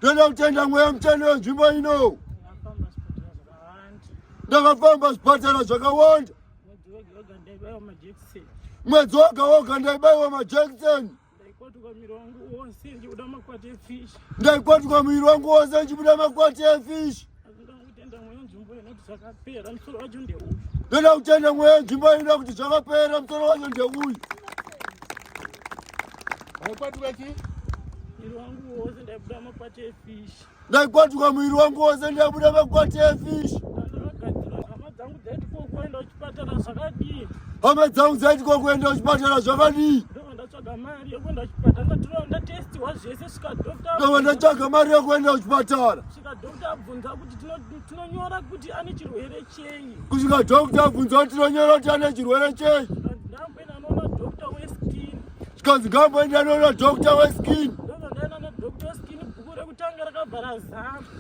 Toda kutenda mweya mutsvene wenzvimbo ino. Ndakafamba zvipatara zvakawanda. Mwedzi woga woga ndaibaiwa majekiseni. Ndaikwatuka muviri wangu wose ndichibuda makwati efishi. Ndoda kutenda mweya nzvimbo inoda kuti zvakapera musoro wacho ndeuyu. Waikwatuka chii? Mwiri wangu wose ndaibuda makwati efish. Ndaikwatuka mwiri wangu wose ndaibuda makwati efish. Hama dzangu dzaiti ko kuenda kuchipatara zvakadii? ndatsvaga mari yekuenda kuchipatara ndatirova ndatestiwa zvese svika doctor ndava ndatsvaga mari yekuenda kuchipatara svika doctor abvunza kuti tinonyora kuti ane chirwere chei kusvika doctor abvunza kuti tinonyora kuti ane chirwere chei ndamboenda noona doctor weskin zvikanzi ngamboenda noona doctor weskin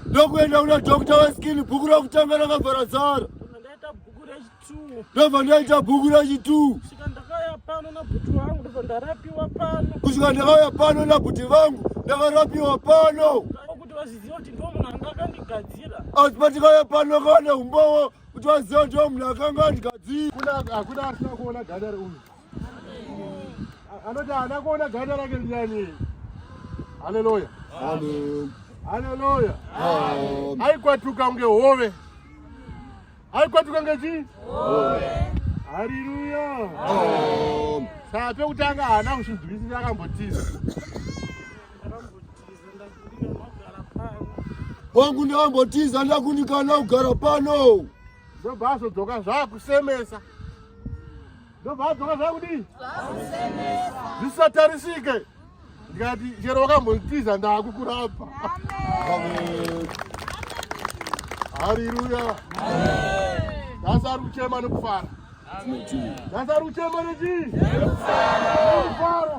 ndokuenda kuna doctor weskin bhuku rekutanga rakabvara zara ndobva ndaita bhuku rachi two kusvika ndakauya pano nabhuti vangu ndakarapiwa pano asi patikauya pano kawane umbowo kuti vaziva kuti munhu akanga andigadzirahakuna asina kuona ganda reuyu anoti haana kuona ganda rake ndiani haleluya haleluya aikwatuka kunge hove aikwatuka ngechii hariruya saa pekutanga haana kusvibvisisa akambotiza wangu ndavambotiza ndakunikana kugara pano ndobva azodzoka zvaakusemesa ndobva adzoka zvakudii zvisatarisike ndikati chero wakambondiza ndaakukurapa hariruya nhasi ari kuchema nekufara nhasi ari kuchema nechii nekufara